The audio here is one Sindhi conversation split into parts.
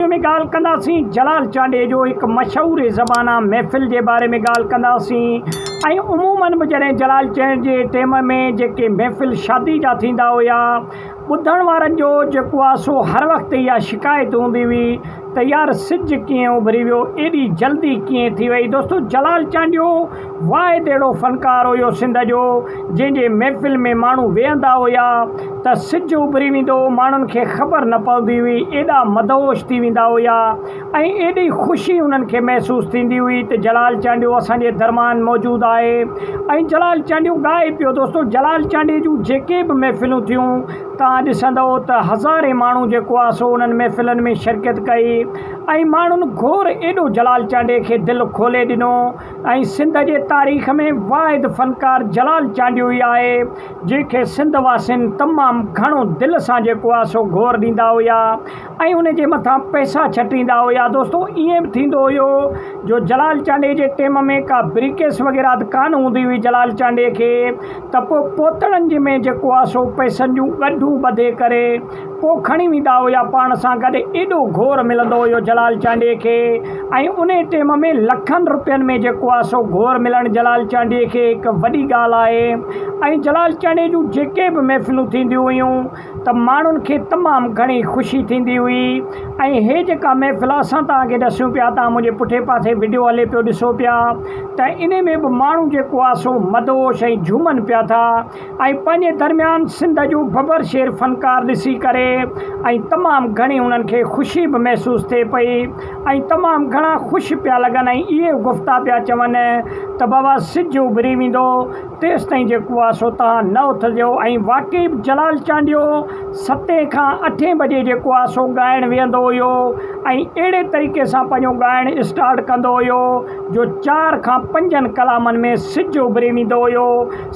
ويڊيو ۾ ڳالهه ڪنداسين جلال چانڊئي جو هڪ مشهور زبانه محفل جي باري ۾ ڳالهه ڪنداسين ۽ عمومن به جڏهن جلال چانڊئي جي ٽيم ۾ جيڪي محفل شادي جا ٿيندا هيا ٻڌڻ وارن جو جيڪو آ سو هر وقت اها شڪايت هوندي هئي ته يار سج ڪيئن اڀري ويو ايڏي جلدي ڪيئن ٿي وئي دوستو جلال چانڊيو واء تهڙو فنڪار هيو سنڌ جو، جنهن جي محفل ۾ ماڻهو ويهندا هيا ته سج اڀري ويندو هو، ماڻهن کي خبر نه پوندي هئي، ايڏا مدهوش ٿي ويندا هيا ۽ ايڏي خوشي انهن کي محسوس ٿيندي هئي ته جلال چانڊيو اسان جي درميان موجود آهي ۽ جلال چانڊيو ڳائي پيو. دوستو جلال چانڊيي جون جيڪي به محفلون ٿيون توهان ڏسندؤ ته هزارين ماڻهو جيڪو آهي سو انهن محفلن ۾ شرڪت ڪئي ۽ ماڻهن گهور ايڏو جلال چانڊيي کي دل کولي ڏنو. ۽ سنڌ جي تاريخ ۾ واحد فنڪار جلال چانڊيو ئي آهي، جنهن کي سنڌ واسين تمام گهڻو دل سان جيڪو آهي سو گهور ڏيندا هيا ۽ ان جي مٿان پئسا ڇٽيندا هيا. دوستو ائين به ٿيندو هيو جو جلال چانڊيي جي ٽيم ۾ ڪا بريڪيس وغيره ته ڪانه هوندي هئي جلال چانڊيي کي ته پوء پوتڙن جي ۾ جيڪو آهي سو پئسن جون ڳنڍون ٻڌي ڪري اهو کڻي ويندا هيا پاڻ سان گڏ ايڏو گهور ملندو هيو جلال چانڊيي کي ۽ انهي ٽيم ۾ لکن روپين ۾ جيڪو آهي سو گهور ملڻ جلال چانڊيي کي هڪ وڏي ڳالهه آهي ۽ جلال چانڊيي جون جيڪي به محفلون ٿينديون هيون ته ماڻهن کي تمام گهڻي خوشي ٿيندي هئي ۽ هي جيڪا محفل اسان توهان کي ڏسيون پيا توهان منهنجي پٺي پاسي وڊيو هلي پيو ڏسو پيا ته انهي ۾ به ماڻهو جيڪو آهي سو مدهوش ۽ جهومن پيا ٿا ۽ پنهنجي درميان سنڌ جون ڀڀر شير فنڪار ڏسي ڪري ۽ تمام گهڻي انهن کي خوشي به محسوس ٿئي پئي ۽ تمام گهڻا خوش پيا لڳن ۽ اهي گفتا پيا چون ته بابا سج اڀري ويندو تيستائين جي ڪواسو تان نه اٿجو ۽ واقعي به جلال چانڊيو ستين کان اٺين بجي جي ڪواسو ڳائڻ ويهندو هيو ۽ اهڙي طريقي سان پنهنجو ڳائڻ اسٽارٽ ڪندو هيو جو چار کان پنجن ڪلامن ۾ سج اڀري ويندو هيو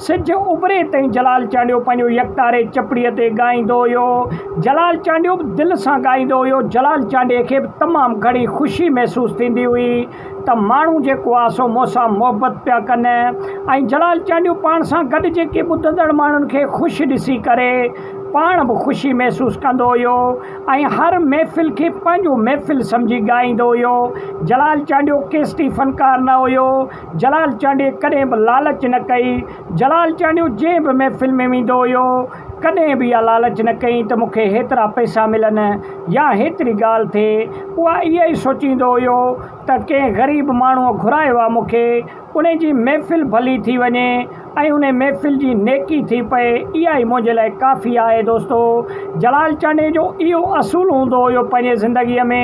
سج اڀري تائين جلال چانڊيو پنهنجو يڪتاري چپڙي تي ڳائيندو هيو. جلال چانڊيو به دل سان ڳائيندو هيو. جلال چانڊيي کي به تمام گهڻي خوشي محسوس ٿيندي هئي ته ماڻهو جيڪو آ سو مون سان محبت پيا ڪن ۽ جلال چانڊيو پاڻ سان گڏ جيڪي ٻڌندڙ ماڻهن کي خوش ڏسي ڪري پاڻ به خوشي محسوس ڪندو هيو ۽ هر محفل کي پنهنجو محفل سمجهي ڳائيندو هيو. جلال چانڊيو ڪيسٽي فنڪار نه هيو. جلال چانڊيي ڪڏهن به لالچ نه ڪئي. جلال چانڊيو جنهن به محفل ۾ ويندو هيو، ڪڏهن به اها لالچ نه ڪيائين ته مون کي هيترا پئسا ملن يا هيتري ڳالهه ٿئي. اها اها ئي سوچيندو هيو ته ڪنهن غريب ماڻهوء گهرايو آهي مون کي، ان جي محفل ڀلي ٿي وڃي. ۽ انهي محفل جي نيڪي ٿي پئي، اها ئي منهنجي لاء ڪافي آهي دوستو! جلال چانڊيي جو اهو اصول هوندو هيو پنهنجي زندگيء ۾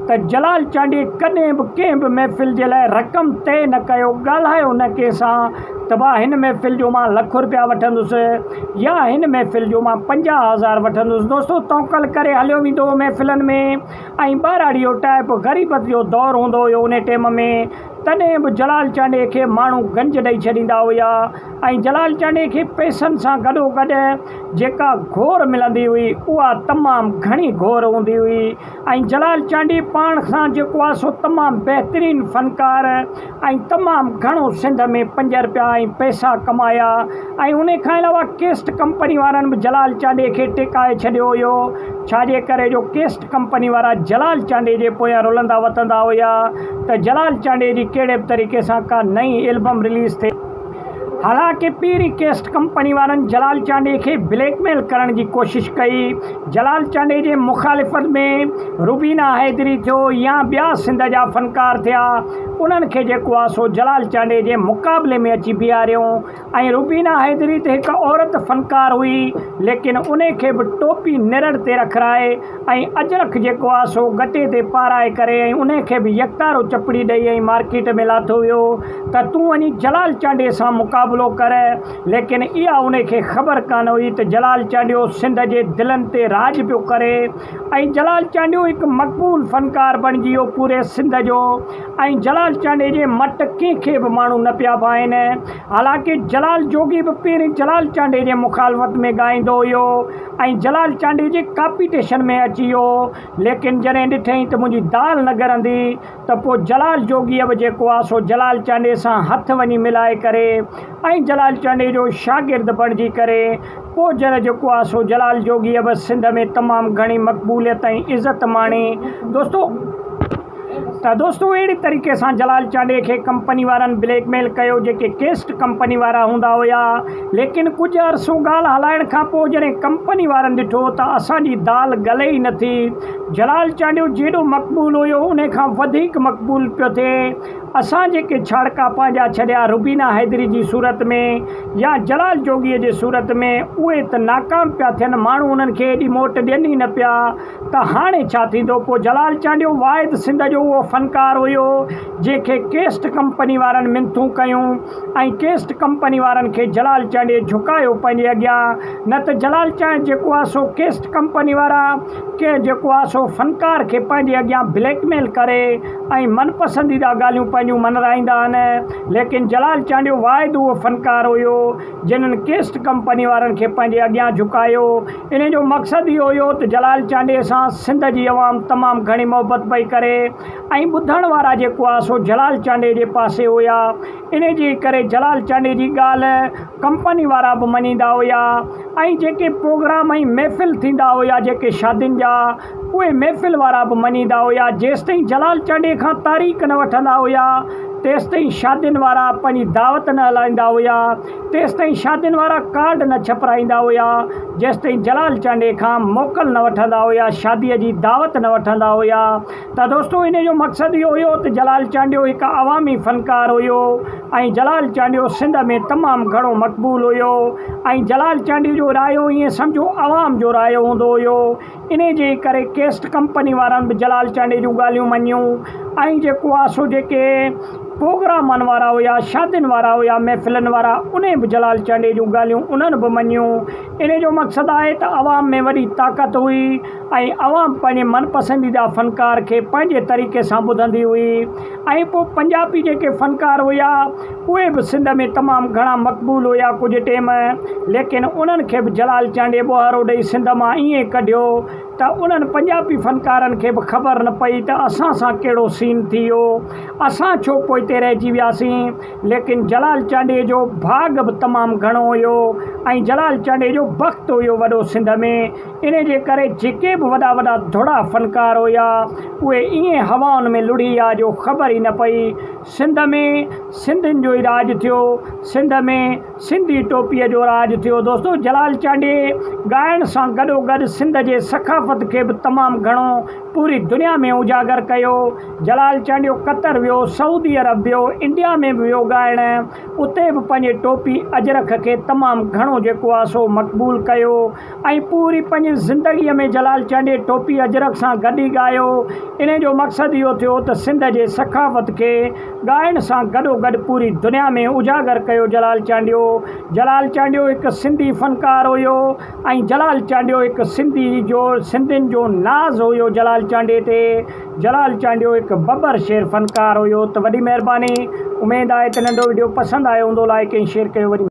ته جلال چانڊيي ڪڏهن به ڪنهن به محفل جي لاء رقم طئي نه ڪيو، ڳالهايو نه ڪنهن سان ته ڀا هن محفل جو مان لک رپيا وٺندس يا هن محفل جو مان پنجاهه هزار وٺندس، دوستو توڪل ڪري هليو ويندو هو محفلن ۾ ۽ ٻهراڙيو ٽائپ غريبت جو دور هوندو هيو انهي ٽيم ۾. تڏهن به جلال چانڊيي کي ماڻهو گنج ڏئي ڇڏيندا هيا ۽ جلال چانڊيي کي پئسن سان گڏوگڏ جيڪا گهور ملندي هئي اها تمام گهڻي گهور هوندي هئي ۽ جلال چانڊيي پاڻ سان جيڪو آهي سو تمام بهترين فنڪار ۽ تمام گهڻو سنڌ ۾ پنج رپيا ۽ پئسا ڪمايا ۽ انهي کان علاوه ڪيسٽ ڪمپني وارن به جلال چانڊيي کي ٽيڪائي ڇڏيو هيو ڇاجي ڪري جو ڪيسٽ ڪمپني وارا جلال چانڊيي جي پويان رلندا وتندا هيا ته جلال چانڊيي جي ڪهڙي به طريقي سان ڪا نئين البم رليز ٿئي. حالانڪه پيري ڪيسٽ ڪمپني وارن جلال چانڊيي کي بليڪ ميل ڪرڻ جي ڪوشش ڪئي. جلال چانڊيي جي مخالفت ۾ روبينا حيدري ٿيو يا ٻيا سنڌ جا فنڪار ٿيا انهن کي جيڪو آسو جلال چانڊيي جي مقابلي ۾ اچي بيهاريو. ائين روبينا حيدري ته هڪ عورت فنڪار هئي، ليڪن انهي کي به ٽوپي نرڙ تي رکرائي ۽ اجرڪ جيڪو آ سو گٽي تي پارائي ڪري ۽ انهي کي به يڪتارو چپڙي ڏئي ۽ مارڪيٽ ۾ لاٿو ويو ته تون وڃي جلال چانڊيي سان مقابلو ڪر ليڪن اها انهي کي خبر ڪانه هئي ته جلال چانڊيو سنڌ جي دلن تي راڄ پيو ڪري ۽ جلال چانڊيو هڪ مقبول فنڪار بڻجي ويو پوري سنڌ جو ۽ جلال چانڊئي جي مٽ ڪنهن کي به ماڻهو نه پيا ڀائين. حالانڪه جلال جوڳي به پهرين جلال چانڊئي جي مخالفت ۾ ڳائيندو هيو ۽ جلال چانڊئي جي ڪاپيٽيشن ۾ اچي ويو ليڪن جڏهن ڏٺئين ته منهنجي دال نه ڳرندي ته پوء جلال جوڳيء به جيڪو آهي سو جلال چانڊئي سان هٿ وڃي ملائي ڪري ۽ جلال چانڊئي جو شاگرد بڻجي ڪري ڪوجر جيڪو آ سو جلال جوڳيء به سنڌ ۾ تمام گهڻي مقبوليت ۽ عزت ماڻي دوستو ته دوستو اهڙي طريقي سان جلال چانڊيي کي ڪمپني وارن بليڪ ميل ڪيو جيڪي ڪيسٽ ڪمپني وارا هوندا هيا ليڪن ڪجهه عرصو ڳالهه هلائڻ کان پوء جڏهن ڪمپني وارن ڏٺو ته اسان جي دال ڳلي ئي نٿي جلال چانڊيو جيڏو مقبول هيو انهي کان وڌيڪ مقبول پيو ٿئي اسان جيڪي ڇاڙڪا پنهنجا ڇڏيا روبينا حيدري جي صورت ۾ يا جلال جوڳيء جي صورت ۾ اهي ته ناڪام پيا ٿين ماڻهو انهن کي ايڏي موٽ ڏين ئي نه پيا ته هاڻي ڇا ٿيندو پوء جلال چانڊيو واحد سنڌ جو اهو فنڪار هيو جنهن کي ڪيسٽ ڪمپني وارن منٿون ڪيون ۽ ڪيسٽ ڪمپني وارن کي جلال چانڊيي جهڪايو پنهنجي اڳيان نه ته جلال چانڊ جيڪو آ سو ڪيسٽ ڪمپني وارا ڪي جيڪو آ سو فنڪار کي پنهنجي اڳيان بليڪ ميل ڪري ۽ من پسنديده ڳالهيون پنهنجون منرائيندا آهن ليڪن جلال چانڊيو واحد اهو فنڪار هيو جنھن ڪيسٽ ڪمپني وارن کي پنهنجي اڳيان جهڪايو انهي جو مقصد اهو هيو ته جلال چانڊيي سان سنڌ جي عوام تمام گهڻي محبت پئي ڪري ۽ ٻڌڻ وارا جيڪو آ سو جلال چانڊيي جي پاسي هيا انهي جي ڪري جلال چانڊيي جي ڳالهه ڪمپني وارا به مڃيندا هيا ۽ جيڪي پروگرام ۽ محفل ٿيندا هيا جيڪي شادين جا اهي محفل وارا به مڃيندا هيا جيستائين جلال چانڊئي کان تاريخ نه وٺندا هيا تيستائين شادين وارا پنهنجي دعوت نه هلائيندا هيا تيستائين شادين وارا ڪارڊ نه ڇپرائيندا هيا جيستائين جلال چانڊئي کان موڪل نه وٺندا هيا شادي جي دعوت نه وٺندا هيا ته دوستو انهي جو مقصد اهو هيو ته جلال چانڊيو هڪ عوامي فنڪار هيو ۽ جلال چانڊيو سنڌ ۾ تمام گهڻو مقبول هيو ۽ جلال چانڊيو جو رايو ائين سمجهو عوام جو رايو هوندو هيو. انهيء جي ئي ڪري ڪيسٽ ڪمپني وارن به جلال چانڊيي جون ڳالهيون مڃيون ۽ جيڪو آ سو جيڪي پروگرامن وارا هيا، شادين وارا هيا، محفلن وارا، انهين به جلال چانڊيي جون ڳالهيون انهن به مڃيون. انهيء جو مقصد آهي ته عوام ۾ وڏي طاقت هئي ۽ عوام پنهنجي من پسنديده فنڪار کي پنهنجي طريقي سان ٻڌندي هئي ۽ پوء پنجابي جيڪي فنڪار هيا، اهي به سنڌ ۾ تمام گهڻا مقبول هيا ڪجهه ٽيم ليڪن انهن کي به جلال چانڊيي ٻوهارو ڏئي سنڌ مان ائين ڪڍيو ته انهن پنجابي فنڪارن کي به خبر نه پئي ته اسان سان ڪهڙو سين ٿي ويو اسان ڇو پوئتي رهجي وياسين ليڪن جلال چانڊيي جو ڀاڳ به تمام گهڻو هيو ۽ جلال چانڊيي جو بخت هيو وڏو سنڌ ۾ انهي جي ڪري جيڪي به وڏا وڏا ڌڙا فنڪار هيا اهي ائين هوائن ۾ لڙهي ويا جو خبر ئي نه پئي سنڌ ۾ سنڌين جو ئي راڄ ٿيو. سنڌ ۾ سنڌي ٽوپيء جو راڄ ٿيو. دوستو جلال چانڊيي ڳائڻ سان گڏو گڏ سنڌ جي ثقافت کي به تمام گهڻو پوري دنيا ۾ اجاگر ڪيو. جلال چانڊيو قطر ويو، سعودي عرب ويو، انڊيا ۾ به ويو ڳائڻ. اتي به پنهنجي ٽوپي اجرڪ کي تمام گهڻو جيڪو آ سو مقبول ڪيو. ۽ پوري پنهنجي زندگيء ۾ جلال چانڊيي ٽوپي اجرڪ سان گڏ ئي ڳايو. انهيء جو مقصد اهو ٿيو ته سنڌ جي ثقافت کي ڳائڻ سان گڏوگڏ پوري دنيا ۾ اجاگر ڪيو جلال چانڊيو جلال چانڊيو هڪ سنڌي فنڪار هيو ۽ جلال چانڊيو هڪ سنڌي جو سنڌين جو ناز هيو جلال چانڊيي تي جلال چانڊيو هڪ ببر شير فنڪار هيو ته وڏي مهرباني اميد آهي ته ننڍو وڊيو پسند آيو هوندو لائيڪ ۽ شيئر ڪيو وڏي